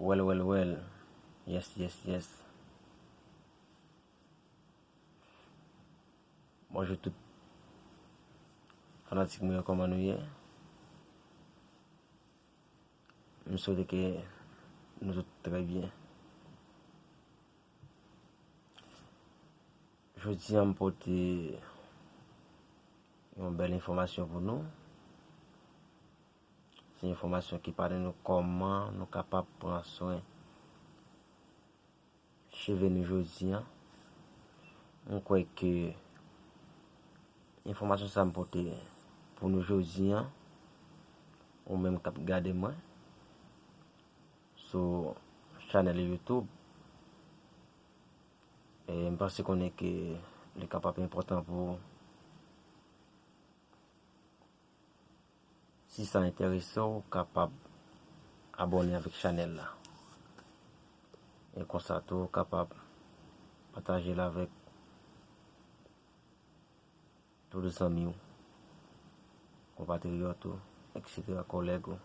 Well well well yes yes yes Bonjou tout fanatik mwen yo koman nou ye M swete ke nou tout trè byen Jodi an m pote yon bèl enfòmasyon pou nou Se enfòmasyon ki pale nou kòman nou kapab pran swen cheve nou jodi an. Mwen kwè ke enfòmasyon sa m pote pou nou jodi an, ou menm k ap gade mwen sou chanèl YouTube, m panse konnen ke li kapab enpòtan pou ou. Si sa enterese w kapab abone avek chanel la. E konsa tou ou kapab pataje l avek tout zanmi w, konpatriyot ou, eksetera, koleg ou.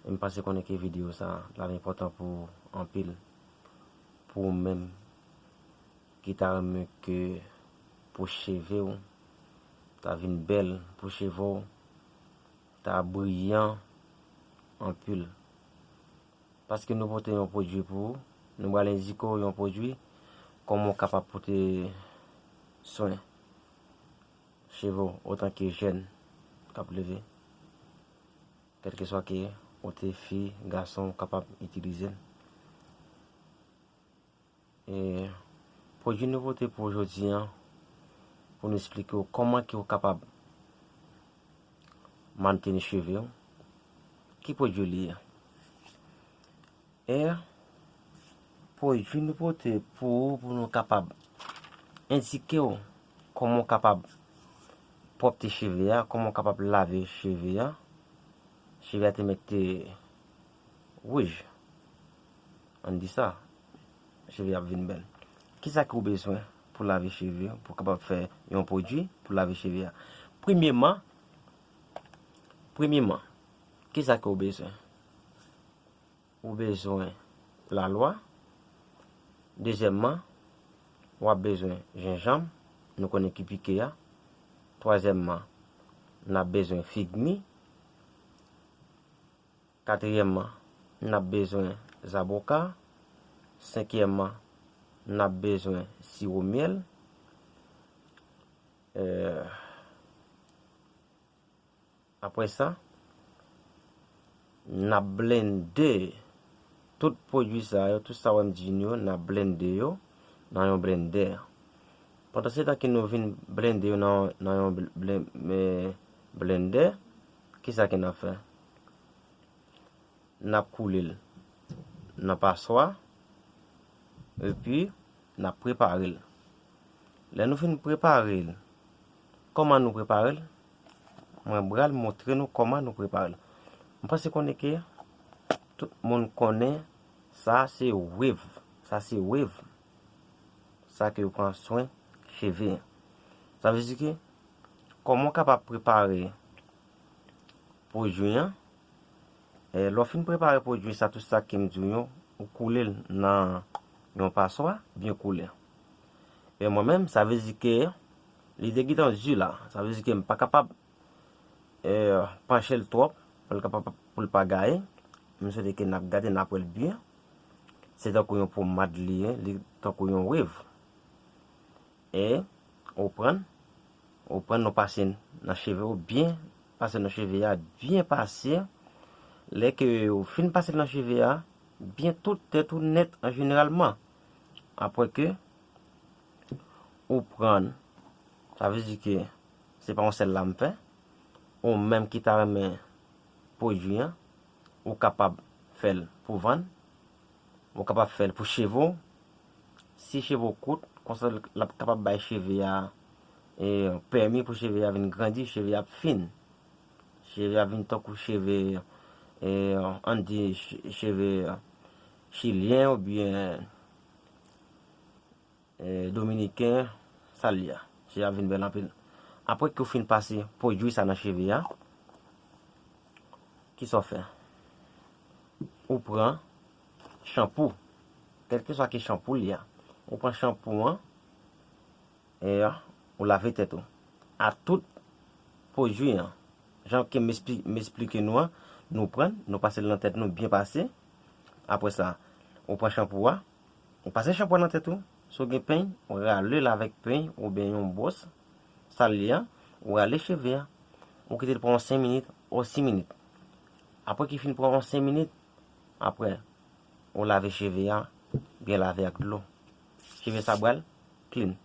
E m pase konnen ke video sa pral enpòtan pou ou anpil. Pou ou menm ki ta renmen ke pou cheve w ta vin bèl, pou cheve w ta briyan anpil. Paske nou pote yon pwodui pou ou, nou pral endike w yon pwodui kòman ou kapab pote swen cheve w otan ke jèn kap leve. Kèlkeswa ke ou te fi, gason ou kapab itilize l. E pwodui nou pote pou ou jodi an pou nou esplike ou kòman ke ou kapab manteni cheve ou. Ki pwodui li ye? E pwodui nou pote pou ou pou nou kapab endike ou kòman ou kapab pwòpte cheve a, kòman ou kapab lave cheve a. Cheve a te mèt te wouj, ann di sa, cheve a ap vin bèl. Kisa ke ou bezwen pou lave cheve ou, pou kapab fè yon pwodui pou lave cheve a? Premyeman, premyeman, kisa ke ou bezwen? Ou bezwen lalwa. Dezyèmman, w ap bezwen jenjanm, nou konnen ki pike a. Twazyèmman, n ap bezwen fig mi. Katriyèmman, n ap bezwen zaboka. Senkyèmman, n ap bezwen siwo myèl. Apre sa, n ap blende tout pwodui sa yo, tout sa wè m di n yo, n ap blende yo nan yon blendè. Pandansetan ke nou vin blende yo nan yon blendè, ki sa ke n ap fè? N ap koule l nan paswa, epi n ap prepare l. Lè nou fin prepare l, kòman nou prepare l? Mwen bral montre nou koman nou preparel. M panse konnen ke tout moun konnen sa se wave. Sa se wave. Sa ke yo pran swen cheve. Sa vle di ke koman w kapab prepare pwodwi an. E lè w fin prepare pwodwi sa tout sa kem di w yo ou koule l nan yon paswa byen koule. E mwen menm sa vle di ke Li te gentan du la. Sa vle di ke m pa kapab panche l twòp pou l pa gaye. M swete ke n ap gade, n ap wè l byen. Se tankou yon pomad li ye, li tankou yon wev. E ou pran l, ou pran l ou pase l nan cheve ou byen, pase nan cheve a, byen pase. Lè ke ou fin pase l nan cheve a, byen tout tèt ou nèt an jeneralman. Apre ke. Ou prann. Sa vle di ke se pa yon sèl la m fè. Ou menm ki ta renmen pwodui an, ou kapab fè l pou vann. Ou kapab fè l pou cheve w. Si cheve w kout, konsa l ap kapab bay cheve a pèmi pou cheve a vin grandi, cheve a ap fin. Cheve a ap vin tankou cheve, an n di cheve chilyen oubyen. Dominiken sal li a. Cheve a vin bel anpil. Apre ke ou fin pase pwodui sa nan cheve a. Ki sa ou fe? Ou pran chanpou. Kelke sa ki chanpou li a. Ou pran chanpou an. E ya. Ou lave tet ou. A tout pwodui an. Jan ke m esplike nou an. Nou pran. Nou pase l nan tet nou. Bien pase. Apre sa. Ou pran chanpou a. Ou pase chanpwen nan tèt ou, si w gen peny, ou rale l avèk peny oubyen yon bwòs sal li a, ou rale cheve a, ou kite l pran yon 5 minit o 6 minit. Apre ki fin pran yon 5 minit, apre ou lave cheve a, byen lave ak dlo. Cheve sa pral clean.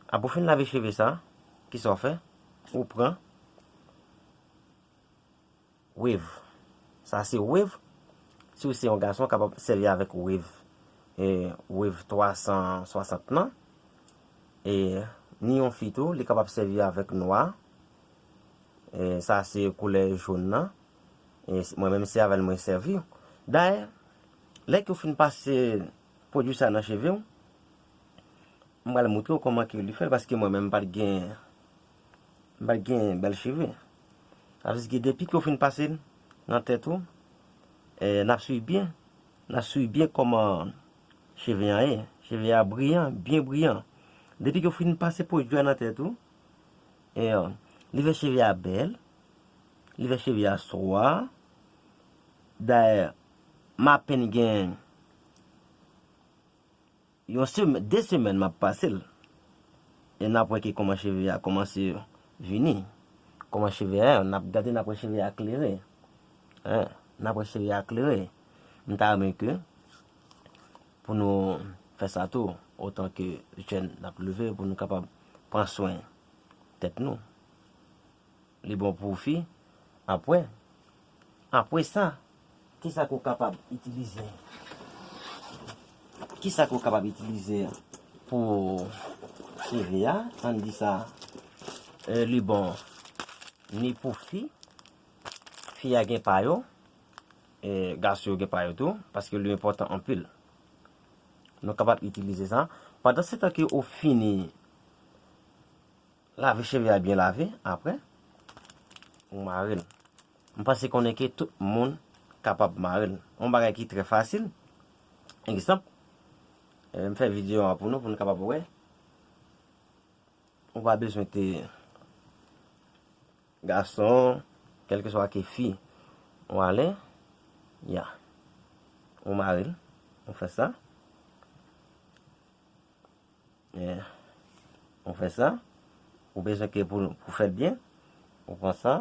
Apre ou fin lave cheve sa, kisa ou fè? Ou pran. Wave. Sa se wave. Si w se yon gason, w kapab sèvi avèk wave. E wave 360 nan. E ni yon fi tou, li kapab sèvi avèk nwa. E sa se koulè joun nan. E mwen menm se avèl mwen sèvi. Dayè, lè ke w fin pase pwodui sa nan cheve w, m pral moutre w kòman ke li fè l paske mwen menm m pat gen. Mike gen bèl cheve. Avsge depi ke w fin pase l nan tèt ou eh nap swiv byen nap swiv byen kòman cheve an ye cheve a briyan byen briyan depi ke w fin pase pwodui a nan tèt ou eh li fè cheve a bèl li fè cheve a swa dayè m apenn gen Yon semen, 2 semen map pasel e nap wè ki kòman cheve a kòmanse vini, kòman cheve a ye, nap gade nap wè cheve a klere e nap wè cheve a klere. M ta renmen ke pou nou fè sa tou otan ke jèn nap leve pou nou kapab pran swen tèt nou. Li bon pou fi ap wè. Apre sa, ki sa ke w kapab itilize? Ki sa ke w kapab itilize pou cheve a? An n di sa, li bon ni pou fi, fi a gen pa yo, gason yo gen pa yo tou, paske li enpòtan anpil. Nou kapab itilize sa. Pandan se tan ke ou fini Lave cheve a byen lave apre ou mare l. M panse konnen ke tout moun kapab mare l. On bagay ki trè fasil. Egzanp, m fè videyo a pou nou pou nou kapab wè. Ou pa bezwen te gason, kelke swa ke fi. Ou ale, ya. Ou mare l. Ou fè sa. Ou fè sa, ou bezwen ke pou ou fèl byen, ou pran sa,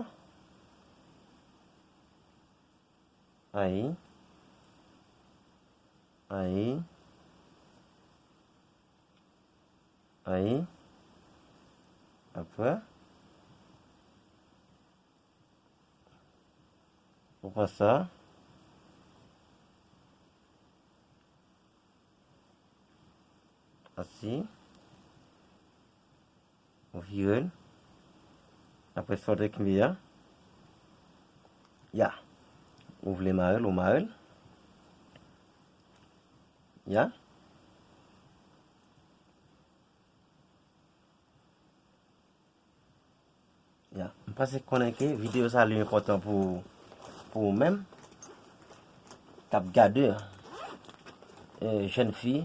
ayi, ayi, ayi, apre, ou pran sa. Asi. Ou vire l. Apre sa ou te kle a. Ya. Ou vle mare l, ou mare l. Ya. Ya, m pase konnen ke videyo sa li enpòtan pou pou ou menm kap gade e jèn fi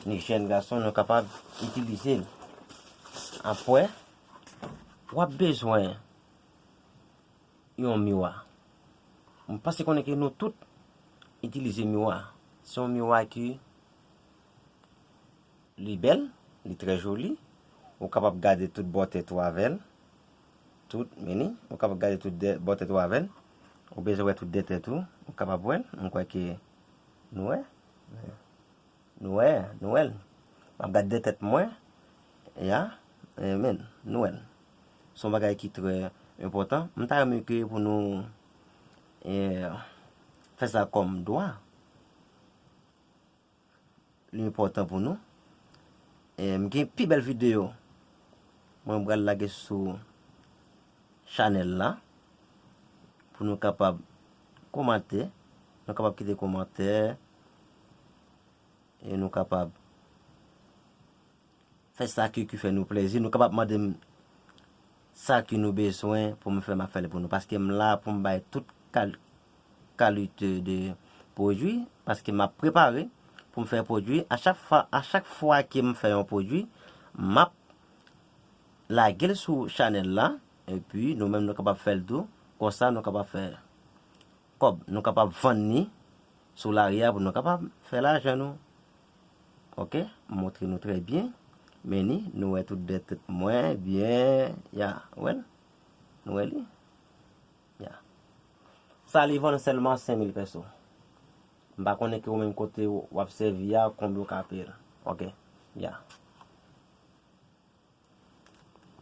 ni jèn gason nou kapab itilize l. Apwè, wap bezwen yon miwa. M pase konnen ke nou tout itilize miwa. Se yon miwa ki. Li bèl, li trè joli, ou kapab gade tout bò tèt ou avè l, tout, meni, ou kapab gade tout dè, bò tèt ou avè l, ou bezwen wè tout dè tèt ou, ou kapab wè l, mwen kwè ke nou wè, nou wè, nou wè l, m ap gad dè tèt mwen, ya, amen, nou wè l, s on bagay ki trè enpòtan, m ta renmen ke pou nou fè sa kòm dwa. Li enpòtan pou nou. M gen pi bèl videyo mwen pral lage sou chanèl la pou nou kapab komante, nou kapab kite komantè e nou kapab Fè sa ke ki fè nou plezi, nou kapab mandem sa ke nou bezwen poum fè map fèl pou nou paskem la poum bay tout kalite de pwodwi paske map prepare poum fè pwodwi a chak fwa kem fè yon pwodwi map lagel sou chanèl la epi nou menm nou kapab fèl tou konsa nou kapab fè kòb nou kapab vann ni sou lari a pou nou kapab fè lajan nou. Ok m montre nou trè byen men ni nou wè tout bèt mwen byen ya ou wèl nou wè li ya sa li vann sèlman 5000 pèso m pa konnen ki ou menm kote wap sèvi ya konbyen ou ka peyel ok ya.